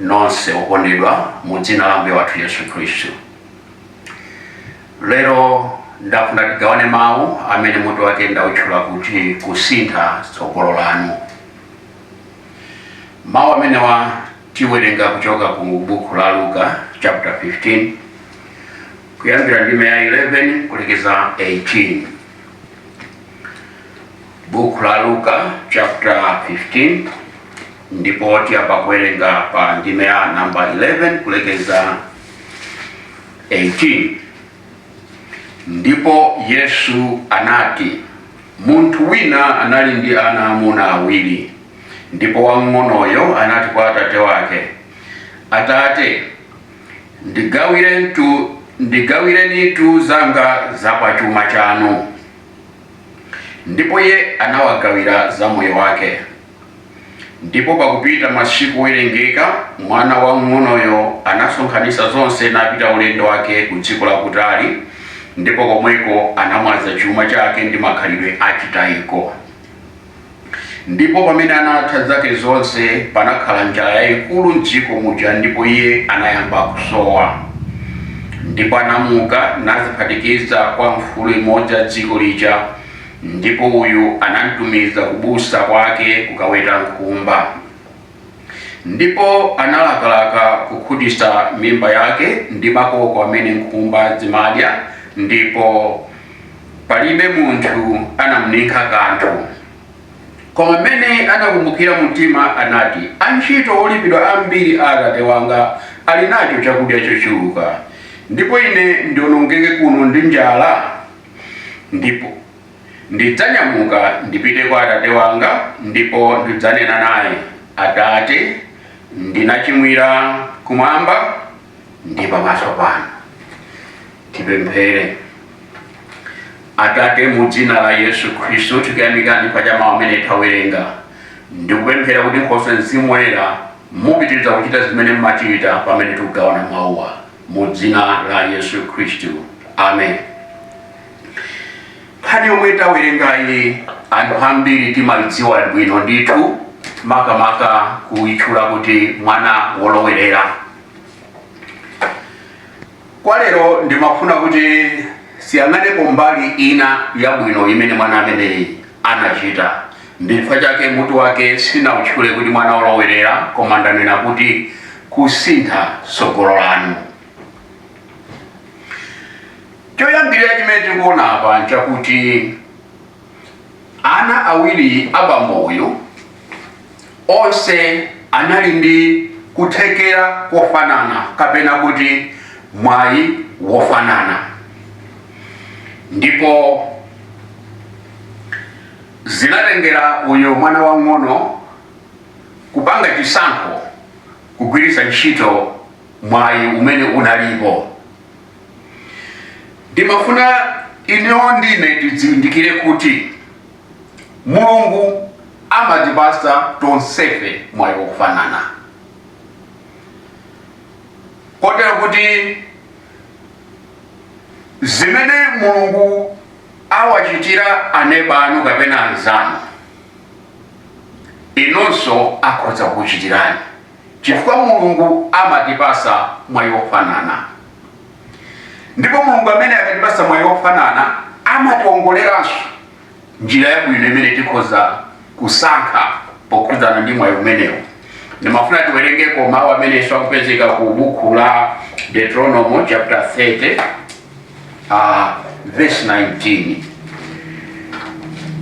nonse okondedwa mu dzina la Ambuye wathu Yesu Khristu. Lero ndafuna tigawane mawu amene mutu wake ndautchula kuti kusintha tsogolo lanu. Mawu amenewa tiwerenga kuchoka ku buku la Luka chapter 15 kuyambira ndime ya 11 kulekeza 18. Buku la Luka chapter 15 ndipo tiyamba kuwerenga pa ndime ya namba 11 kulekeza 18 ndipo yesu anati munthu wina anali ndi ana amuna awiri ndipo wamng'onoyo anati kwa atate wake atate ndigawirenitu zanga za pa chuma chanu Ndipo iye anawagawira za moyo wake. Ndipo pakupita masiku owerengeka, mwana wamng'onoyo anasonkhanitsa zonse napita ulendo wake ku dziko lakutali, ndipo komweko anamwaza chuma chake ndi makhalidwe achitayiko. Ndipo pamene anatha zake zonse, panakhala njala yayikulu m'dziko muja, ndipo iye anayamba kusowa. Ndipo anamuka nadziphatikiza kwa mfulu imodzi ya dziko lija, ndipo uyu anamtumiza kubusa kwake kukaweta nkhumba. Ndipo analakalaka kukhutitsa mimba yake ndi makoko amene nkhumba zimadya, ndipo palibe munthu anamninkha kanthu. Koma m'mene anakumbukira mumtima, anati, Antchito olipidwa ambiri a atate wanga ali nacho chakudya chochuluka, ndipo ine ndionongeke kuno ndi njala? Ndipo. Ndidzanyamuka ndipite kwa atate wanga ndipo ndidzanena naye, Atate, ndinachimwira kumwamba ndi pamaso panu. Tipemphere. Atate, mu dzina la Yesu Khristu tikuyamikani pa cha mawu amene tawerenga ndikupemphera kuti nkhoswe mzimu woyera mupitirize kuchita zimene mmachita pamene tikugawana mawuwa mu dzina la Yesu Khristu. Amen. nkhani yomwe tawerengayi anthu ambiri timaidziwa bwino ndithu makamaka kuitchula kuti mwana wolowerera koma lero ndimafuna kuti tiyang'anepo mbali ina yabwino imene mwana ameneyi anachita ndi chifukwa chake mutu wake sinautchule kuti mwana wolowerera koma ndanena kuti kusintha tsogolo lanu Choyambirira chimene tikuona apa n'chakuti ana awiri a bambo uyu onse anali ndi kuthekera kofanana kapena kuti mwayi wofanana, ndipo zinatengera uyo mwana wamng'ono kupanga chisankho kugwiritsa ntchito mwayi umene unalipo. ndimafuna inewo ndi inu tizindikire kuti mulungu amatipatsa tonsefe mwayi wofanana kotero kuti zimene mulungu awachitira aneba anu kapena anzanu inunso akhoza kukuchitirani chifukwa Mulungu amatipatsa mwayi wofanana ndipo Mulungu amene akatipatsa mwayi wofanana amatiwongoleranso njira yabwino imene tikhoza kusankha pokhudzana ndi mwayi umenewo ndimafuna tiwerengeko mawu amene akupezeka ku buku la deuteronomo chapter 30 uh, verse 19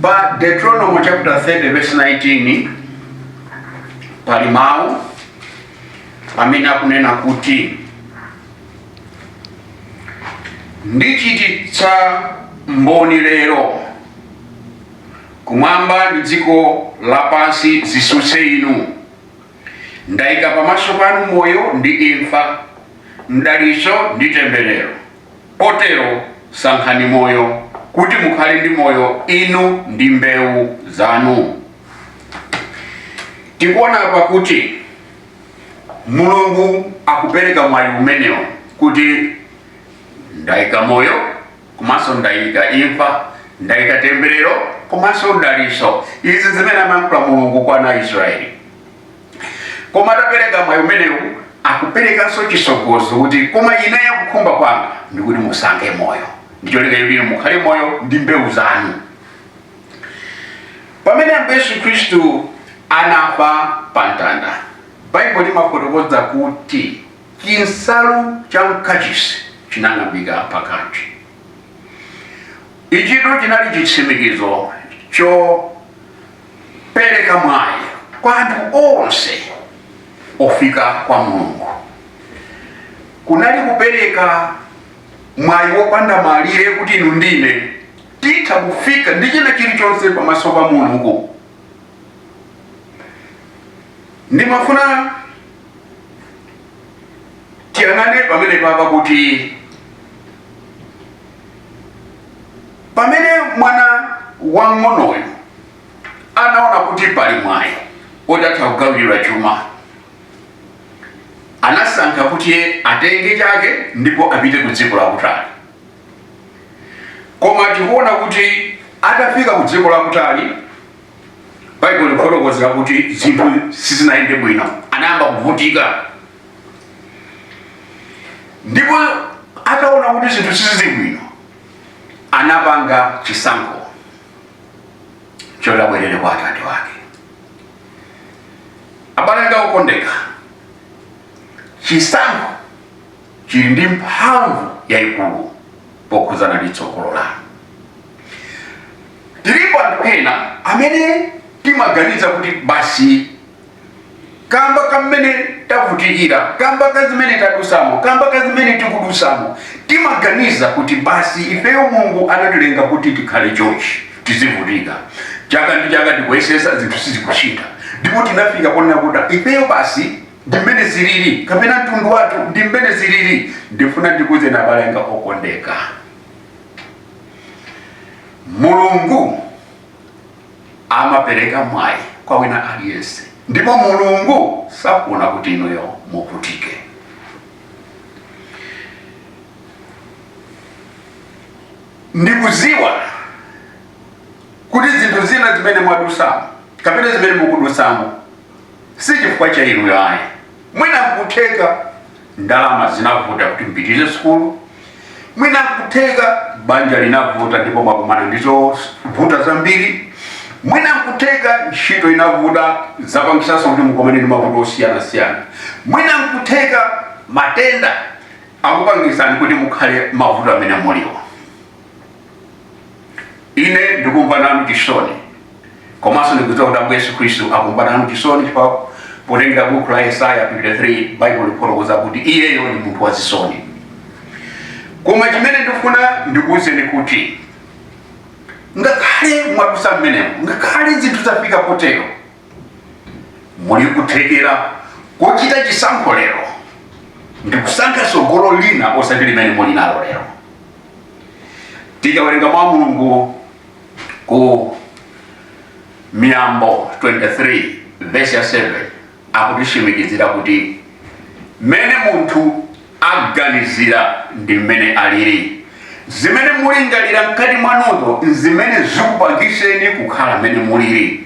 pa deuteronomo chapter 30 verse 19 pali mawu amene akunena kuti ndichititsa mboni lero kumwamba ndi dziko lapansi zitsutse inu Ndaika pamaso panu moyo ndi imfa, mdalitso ndi temberero, potero, sankhani moyo, kuti mukhale ndi moyo, inu ndi mbewu zanu. Tikuona apa kuti Mulungu akupereka mwayi umenewo kuti ndaika moyo komanso ndayika imfa ndayika temberero komanso mdalitso izi zimene amayankhula mulungu kwa ana a israeli koma atapereka mwayi umenewu akuperekanso chitsogozo kuti koma ineyo kukhumba kwanga ndikuti musankhe moyo ndicholinga choti mukhale moyo ndi mbewu zanu pamene ambuye yesu khristu anafa pa mtanda baibulo limafotokoza kuti chinsalu cha mkachisi chinang'ambika pakati. Ichitu chinali chitsimikizo chopereka mwayi kwa anthu onse ofika kwa Mulungu. Kunali kupereka mwayi wopanda malire kuti inu ndi ine titha kufika ndi china chilichonse pamaso pa Mulungu. Ndimafuna tiyang'ane pamene papa kuti pamene mwana wang'onoyo anaona kuti pali mwayi otatha kugawira chuma anasankha kuti atenge chake ndipo apite ku dziko lakutali koma tikuona kuti atafika ku dziko lakutali baibulo lifotokozera kuti zinthu sizinayende bwino anayamba kuvutika ndipo ataona kuti zinthu sizili bwino anapanga chisankho choti abwerere kwa atate wake abale anga okondeka chisankho chili ndi mphamvu yayikulu pokhudzana ndi tsogolo lanu. Tilipo anthu ena amene timaganiza kuti basi kamba kamene tavutikira kamba ka zimene tadusamo kamba ka zimene tikudusamo timaganiza kuti basi ifeyo mulungu anatilenga kuti tikhale chonchi tizivutika chaka ndi chaka tikuyesesa zinthu sizikuchita ndipo tinafika ponena kuti ifeyo basi ndi mmene zilili kapena mtundu wathu ndi mmene zilili ndifuna ndikuuzeni abale anga okondeka mulungu amapereka mwayi kwa wina aliyense ndipo mulungu safuna kuti inuyo muvutike ndikuziwa kuti zinthu zina zimene mwadusamo kapena zimene mukudusamo si chifukwa cha inuyo ayi mwina nkutheka ndalama zinavuta kuti mupitirize sukulu mwina nkutheka banja linavuta ndipo mwakumana ndi zovuta zambiri mwina nkutheka ntchito inavuta zapangisanso kuti mukomane ndi mavuto osiyanasiyana mwina nkutheka matenda akupangisani kuti mukhale mavuto amene muliwo ine ndikumva nanu chisoni komanso ndikudziwa kuti ambuye yesu khristu akumva nanu chisoni chifukwa potengera buku la yesaya 53 baibulo lifotokoza kuti iyeyo ndi munthu wa zisoni koma chimene ndifuna ndikuwuzeni kuti ngakhale mwadusa mmenemo ngakhale zinthu zafika potero muli kuthekera kochita chisankho lero ndikusankha tsogolo lina osati limene muli nalo lero tikawerenga mwa mulungu ku miyambo 23 vesi ya 7 akutitsimikizira kuti mmene munthu aganizira ndi mmene alili zimene mulingalira mkati mwanuzo nzimene zikupangiseni kukhala mmene mulili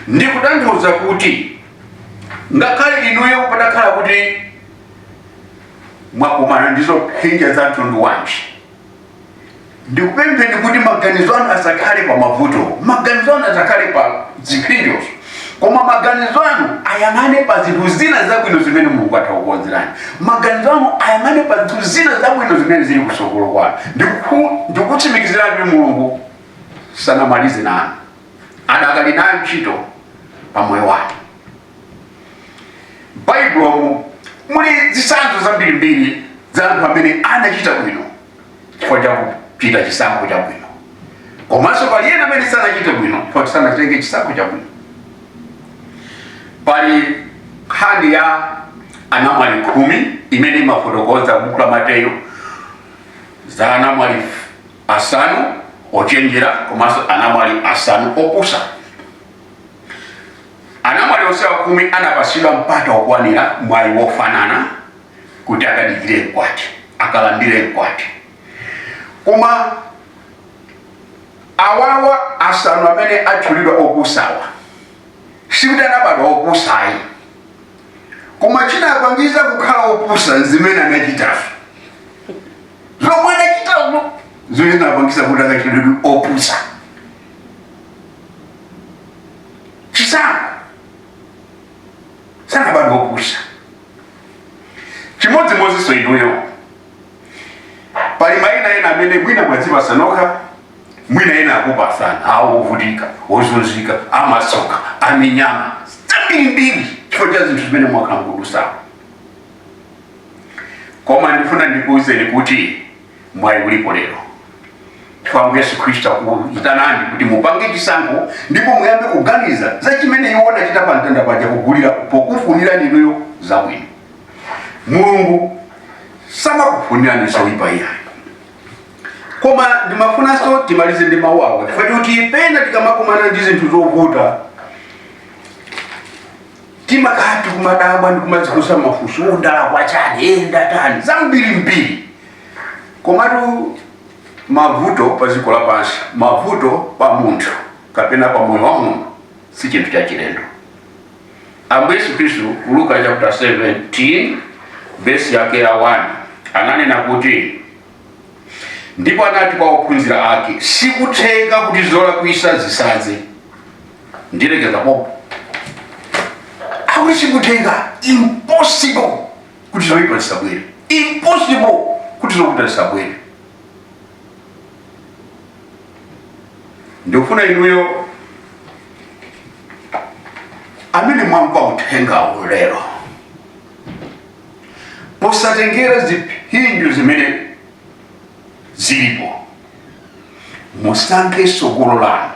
ndikutanthauza kuti ngakhale inuyo patakhala kuti mwakumana ndi zophinja za mtundu wanji ndikupempheni kuti maganizo anu asakhale pa mavuto maganizo anu asakhale pa ziphinjo koma maganizo anu ayang'ane pa zinthu zina zabwino zimene mulungu atha kukonzerani maganizo anu ayang'ane pa zinthu zina zabwino zimene zili kusogolo kwanu ndikutsimikizirani kuti mulungu sanamalize nanu adakali nayo ntchito pa moyo wanu m'baibulo muli zitsanzo zambirimbiri za anthu amene anachita bwino chifukwa cha kuchita chisankho chabwino komanso pali ena amene sanachite bwino chifukwa sanatenge chisankho chabwino pali nkhani ya anamwali khumi imene imafotokoza buku la mateyu za anamwali asanu ochenjera komanso anamwali asanu opusa Anamwali onse akhumi anapatsidwa mpata wokwanira, mwayi wofanana kuti akadikire mkwati, akalandire mkwati. Koma awawa asanu amene atchulidwa opusawa sikuti anabadwa opusa ayi, koma chinapangitsa kukhala opusa nzimene anachitazo. Zomwe anachitazo nzimene zinapangitsa kuti akatchulidwe opusa. chisankho sanabadwa opusa chimodzimodzinso inuyo pali maina ena amene mwina mwadzipasa nokha mwina ena akupasani awo ovutika ozunzika amasoka aminyama zambirimbiri chifukwa cha zinthu zimene mwakhala mukudusamo koma ndifuna ndikuwuzeni kuti mwayi ulipo lero chifukwa yesu khristu akuyitanani kuti mupange chisankho ndipo muyambe kuganiza za chimene iwo anachita pa mtanda paja kugulira pokufunira inuyo zabwino mulungu samakufunirani zoyipa iyayi koma ndimafunanso timalize ndi mawu awa chifukwa choti pena tikamakumana ndi zinthu zovuta timakhala kumadabwa ndikumadzifunsa mafunso ndalakwa chani ndatani zambirimbiri komatu mavuto pa dziko lapansi mavuto pa munthu kapena pa moyo wa munthu si chinthu chachilendo ambuye yesu khristu ku luka chapter 17 vesi yake ya 1 ananena kuti ndipo anati kwa ophunzira ake sikutheka kuti zolakwisa zisadze ndilekeza popo akuti sikutheka impossible kuti zoyipa zisabwere impossible kuti zovuta zisabwere ndikufuna inuyo amene mwamva uthengawo lero posatengera ziphinjo zimene zilipo musankhe sogolo lanu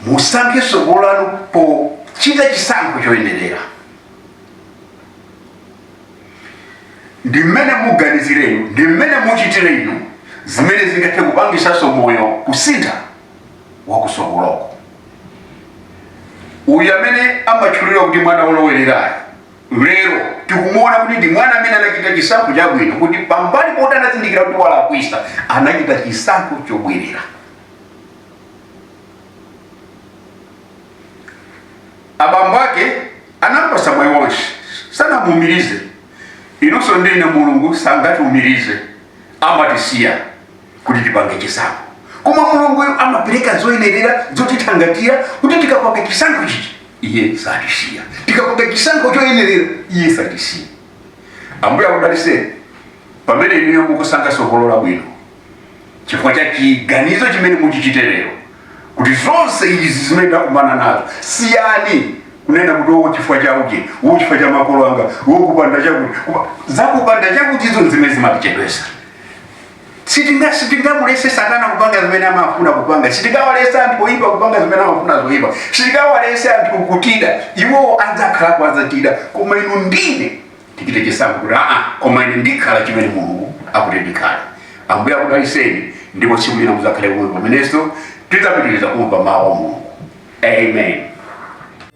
musankhe sogolo lanu pochita chisankho choyenerera ndi mmene muganizire inu ndi mmene muchitire inu zimene zingathe kupangisanso moyo kusintha wakusogoloko uyu amene amatchulidwa kuti mwana wolowererayo lero tikumuona kuti ndi mwana amene anachita chisankho chabwino kuti pambali poti anazindikira kuti walakwisa anachita chisankho chobwerera abambo ake anampasa mwayi wonse sanamuumirize inunso ndi ine mulungu sangatiumirize amatisiya kuti tipange chisankho koma mulunguyo amapereka zoyenerera zotithangatira kuti tikapanga chisankho chichi iye satisiya tikapanga chisankho choyenerera iye satisiya ambuye akudaliseni pamene inuyo mukusankha sogolo labwino chifukwa cha chiganizo chimene muchichite lero kuti zonse izi zimene takumana nazo siyani kunena kuti wo chifukwa cha uji wo chifukwa cha makolo anga wo kupanda chakuti Kupa- zakupanda chakuti izo zimene zimatichedwesa Sitinga sitingamulese satana kupanga zimene amafuna kupanga. Sitingawalese anthu oyipa kupanga zimene amafuna zoyipa. Sitingawalese anthu kutida. Iwowo adzakhala akudzatida. Koma inu ndi ine tichite chisankho kuti aa koma ine ndikhala chimene Mulungu akuti ndikhale. Ambuye akudaliseni ndipo tsiku lina mudzakhale kuno pamenenso tidzapitiriza kumva mawu a Mulungu. Amen.